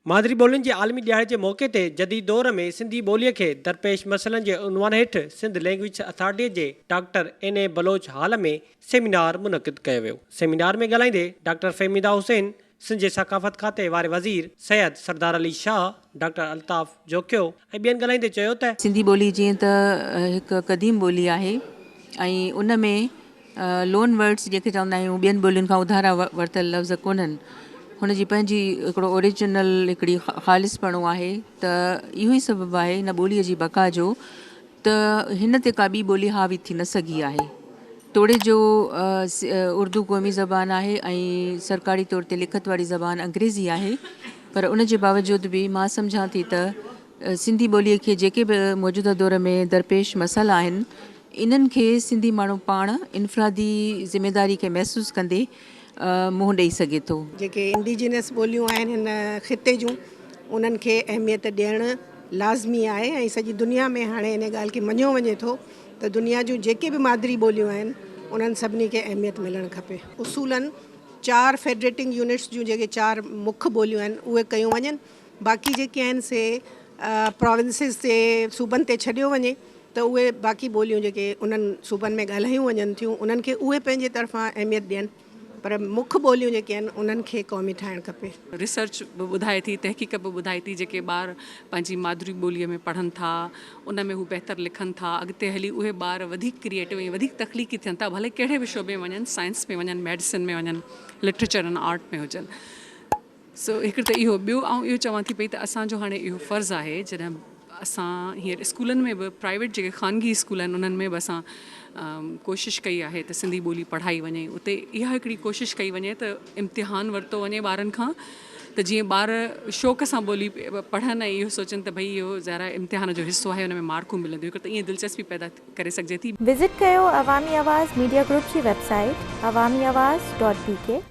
مادري ٻولين جي عالمي ڏيهاڙي جي موقعي تي جديد دور ۾ سنڌي ٻوليء کي درپيش مسئلن جي عنوان هيٺ سنڌ لئنگويجز اٿارٽيء جي doctor N A Baloch hall ۾ seminar منعقد ڪيو ويو. سيمينار ۾ ڳالهائيندي ڊاڪٽر فهميده حسين، سنڌ جي ثقافت کاتي واري وزير سيد سردار علي شاهه، ڊاڪٽر الطاف جوکيو ۽ ٻين ڳالهائيندي چيو ته. سنڌي ٻولي جيئن ته هڪ قديم ٻولي آهي ۽ ان ۾ لون ورڊز جيڪي چوندا آهيون ٻين ٻولين کان اڌارا ورتل لفظ ڪونهن هن جي پنهنجي هڪڙو اوريجنل هڪڙي خالص پڻو آهي ته اهو ئي سبب آهي هن ٻولي جي بقا جو ته هن تي ڪا ٻي ٻولي حاوي ٿي نه سگهي آهي توڙي جو اردو قومي زبان آهي ۽ سرڪاري طور تي لکت واري زبان انگريزي آهي پر ان جي باوجود به مان سمجهان ٿي ته سنڌي ٻوليء کي جيڪي به موجوده دور ۾ درپيش مسئلا آهن، انهن کي سنڌي ماڻهو پاڻ انفرادي ذميداري کي محسوس ڪندي منهن ڏئي سگهي ٿو. جيڪي انڊيجينس ٻوليون آهن هن خطي جون، انهن کي اهميت ڏيڻ لازمي آهي ۽ سڄي دنيا ۾ هاڻي ان ڳالهه کي مڃيو وڃي ٿو ته دنيا جون جيڪي به مادري ٻوليون آهن، انهن سڀني کي اهميت ملڻ کپي. اصولن چار فيڊريٽنگ يونٽس جون جيڪي چار مک ٻوليون آهن، اهي ڪيون وڃن. باقي جيڪي آهن سي پراونسز تي صوبن تي ڇڏيو وڃي ته اهي باقي ٻوليون جيڪي انهن صوبن ۾ ڳالهايون وڃن ٿيون انهن کي اهي پنهنجي طرفان اهميت ڏين پر مک ٻوليون جيڪي آهن انهن کي قومي ٺاهڻ کپي. ريسرچ به ٻڌائي ٿي تحقيق به ٻڌائي ٿي جيڪي ٻار پنهنجي مادري ٻوليء ۾ پڙهن ٿا ان ۾ هو بهتر لکن ٿا اڳتي هلي اهي ٻار وڌيڪ ڪريئيٽو ۽ وڌيڪ تخليقي ٿين ٿا ڀلي ڪهڙي به شعبي ۾ وڃن سائنس ۾ وڃن ميڊيسن ۾ وڃن لٽريچر ۽ آرٽ ۾ هجن سو هڪڙي ته اهو، ٻيو آئون اهو چوان ٿي پئي ته اسان جو هاڻي اهو فرض آهي جڏهن اسان هينئر اسڪولن ۾ به پرائيويٽ جيڪي خانگي اسڪول آهن انهن ۾ به اسان ڪوشش ڪئي آهي ته سنڌي ٻولي پڙهائي وڃي اتي اها هڪڙي ڪوشش ڪئي وڃي ته امتحان ورتو وڃي ٻارن کان ته جيئن ٻار شوق سان ٻولي پڙهن ۽ اهو سوچن ته ڀئي اهو ظاهر امتحان جو حصو آهي ان ۾ مارڪون ملنديون هڪڙي ته ائين دلچسپي پيدا ڪري سگهجي ٿي. وزٽ ڪيو عوامي آواز ميڊيا گروپ جي website Awami Awaz dot بي ڪي.